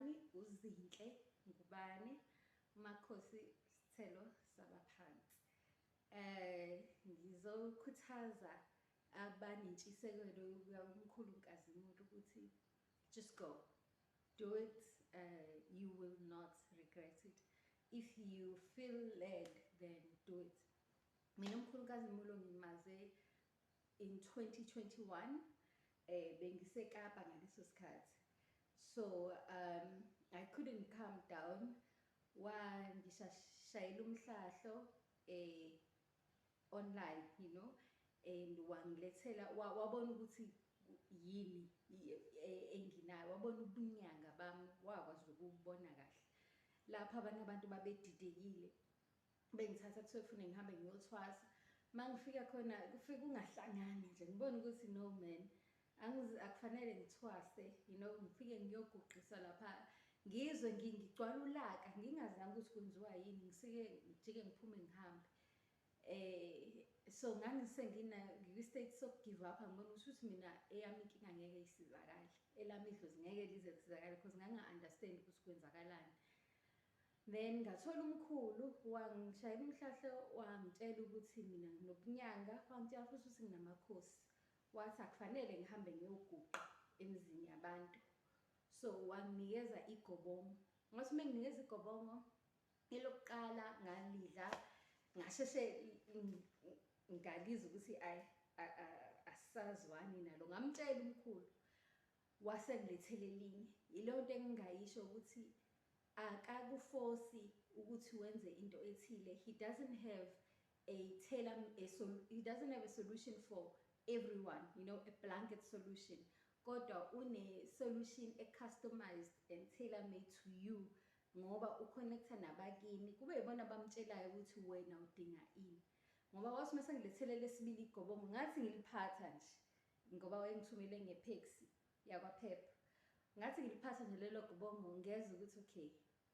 UZinhle Ngubane, Makhosi Sithelo Sabaphansi. Um ngizokhuthaza abanentshisekelo yokuya kumkhulu nkazimulo ukuthi just go do it uh, you will not regret it if you feel led then do it mina umkhulukazi mulo ngimaze In 2021 bengise Kapa ngaleso sikhathi so um I couldn't calm down wangishayela umhlahlo eh online you know and wangilethela wabona ukuthi yini e, enginayo wabona ubunyanga bami wakwazi ukubona kahle lapha abanye abantu babedidekile bengithatha kuthiwa fune ngihambe ngiyothwasa uma ngifika khona kufike kungahlangani nje ngibone ukuthi no man akufanele ngithwase you know ngifike ngiyoguqisa lapha ngizwe ngigcwala ulaka ngingazange ukuthi kwenziwa yini ngisike ngijike ngiphume ngihambe eh so ngangisengina ngiku-state sokugive up angibona ukuthi ukuthi mina eyami inkinga ngeke isizakale elami idlozi ngeke lize lisizakale because nganga-understand ukuthi kwenzakalani Then ngathola umkhulu wangishayela umhlahlo wangitshela ukuthi mina nginobunyanga wangitshela futhi ukuthi nginamakhosi wathi akufanele ngihambe ngiyoguqa emizini yabantu so wanginikeza igobongo ngathi uma nginikeza igobongo elokuqala ngalidla ngasheshe ngalizwa ukuthi ayi asazwani nalo ngamtshela umkhulu wasengilethele elinye yileyo nto engingayisho ukuthi Akakufosi ukuthi wenze into ethile, he doesn't have a tailor a sol he doesn't have a solution for everyone, you know, a blanket solution. Kodwa une solution e customized and tailor made to you ngoba u connecta nabakini kube yibona abamtshelayo ukuthi wena udinga ini. Ngoba wathi mase ngilethele lesibili igobongo ngathi ngiliphatha nje ngoba wayengithumele nge taxi. yakwaPep ngathi ngiliphatha nje lelo gubongo ngezwa ukuthi okay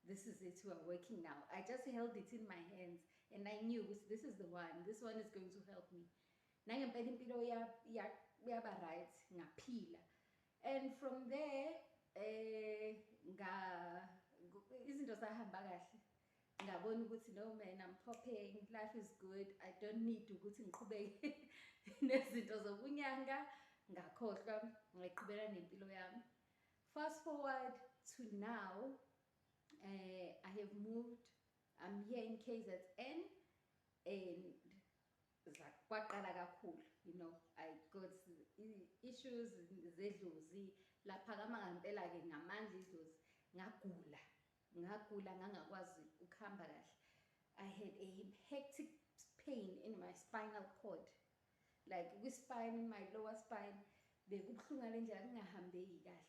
this is it we are working now i just held it in my hands and i knew ukuthi this is the one this one is going to help me nangempela impilo yaba right ngaphila and from there eh nga izinto zahamba kahle ngabona ukuthi no man I'm popping life is good I don't need ukuthi ngiqhubeke nezinto zokunyanga ngakhohlwa ngayiqhubela nempilo yami fast forward to now uh, I have moved I'm here in KZN and kwaqala kakhulu you know I got issues zedlozi laphakama ngempela ke ngamandla idlozi ngagula Ngagula ngangakwazi ukuhamba kahle. I had a hectic pain in my spinal cord. Like kwi spine in my lower spine bekubuhlungu ngalendlela kungahambeki kahle.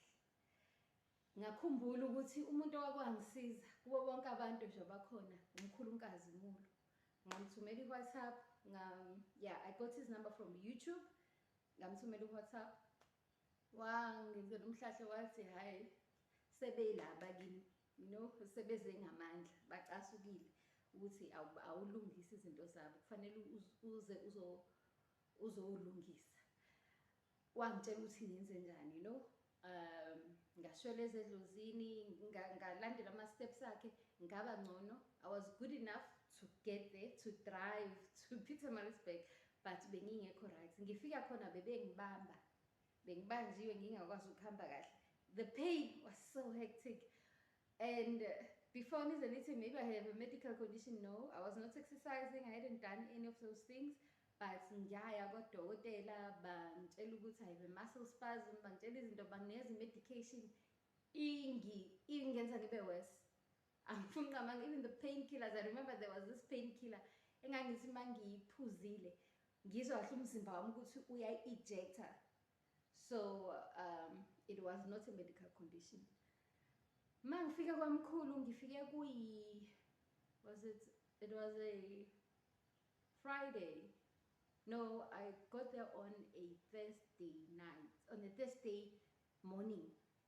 Ngakhumbula ukuthi umuntu owakwangisiza kubo bonke abantu nje abakhona umkhulunkazi Mulu. Ngamthumela iWhatsApp ngam yeah I got his number from YouTube. Ngamthumela iWhatsApp wangenzela umhlahlo wathi hhayi sebeyilaba kimi you know sebeze ngamandla bacasukile ukuthi awulungisi izinto zabo kufanele uze uzowulungisa wangitshela ukuthi ngenze njani you know um ngashwela ezedlozini ngalandela ama-steps akhe ngaba ngcono i was good enough to get there to drive to peter marisburg but bengingekho right ngifika khona bebengibamba bengibanjiwe ngingakwazi ukuhamba kahle the pain was so hectic and uh, before nize nithi maybe i have a medical condition no i was not exercising i hadn't done any of those things but ngiyaya kodokotela bangitshela ukuthi i have a muscle spasm bangitshela izinto bangineza i-medication ingi ingenza ngibe worse angifuni nqamanga even the pain killers i remember there was this pain killer engangithi uma ngiyiphuzile ngizwa kahle umzimba wami ukuthi uyayi-ejector so um, it was not a medical condition ma ngifike kwamkhulu ngifike kuyi was it it was a friday no i got there on a thursday night on a thursday morning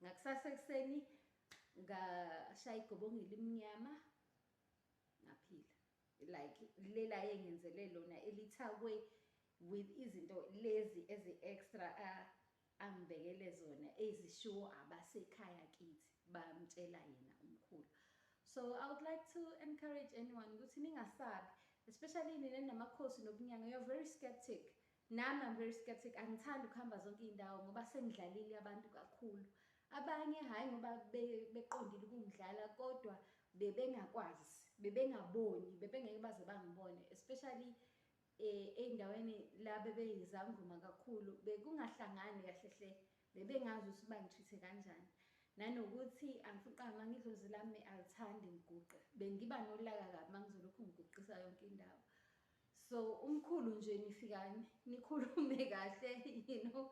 Ngakusasa ekuseni ngashaya igobongo elimnyama ngaphila like lela yengenzele lona elithakwe with izinto lezi ezi extra uh, angibekele zona ezishiwo abasekhaya kithi bamtshela yena umkhulu so i would like to encourage anyone ukuthi ningasabi especially nina namakhosi nobunyanga you're very skeptic Nami I'm very skeptic angithandi ukuhamba zonke iy'ndawo ngoba sengidlalile abantu kakhulu abanye hhayi ngoba beqondile ukungidlala kodwa bebengakwazi bebengaboni bebengeke baze bangibone especially eh, ey'ndaweni la bebeyizangoma kakhulu bekungahlangani kahle hle bebengazi ukuthi bangithithe kanjani nanokuthi angifuqanga ngidlozi lami alithandi ngiguqe bengiba nolaka kabi uma ngizolokhu ngiguqisa yonke indawo So umkhulu nje nifikane nikhulume kahle you know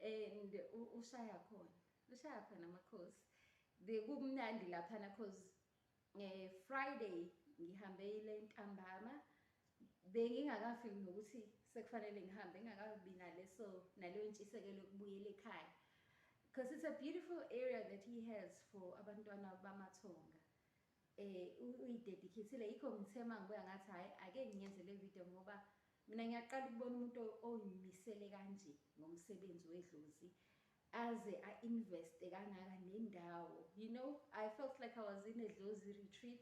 and ushaya khona. Ushaya khona amakhosi. Bekumnandi laphana cause eh Friday ngihambile ntambama bengingakafiki nokuthi sekufanele ngihambe ngingakabi naleso naleyo ntshisekelo yokubuyela ekhaya because it's a beautiful area that he has for abantwana bamathonga Eh uyidedicatile yikho ngithe mangibuya ngathi hayi ake ngiyenze le video ngoba mina ngiyaqala ukubona umuntu oyimisele kanje ngomsebenzi wedlozi aze a invest kangaka nendawo you know i felt like i was in a dlozi retreat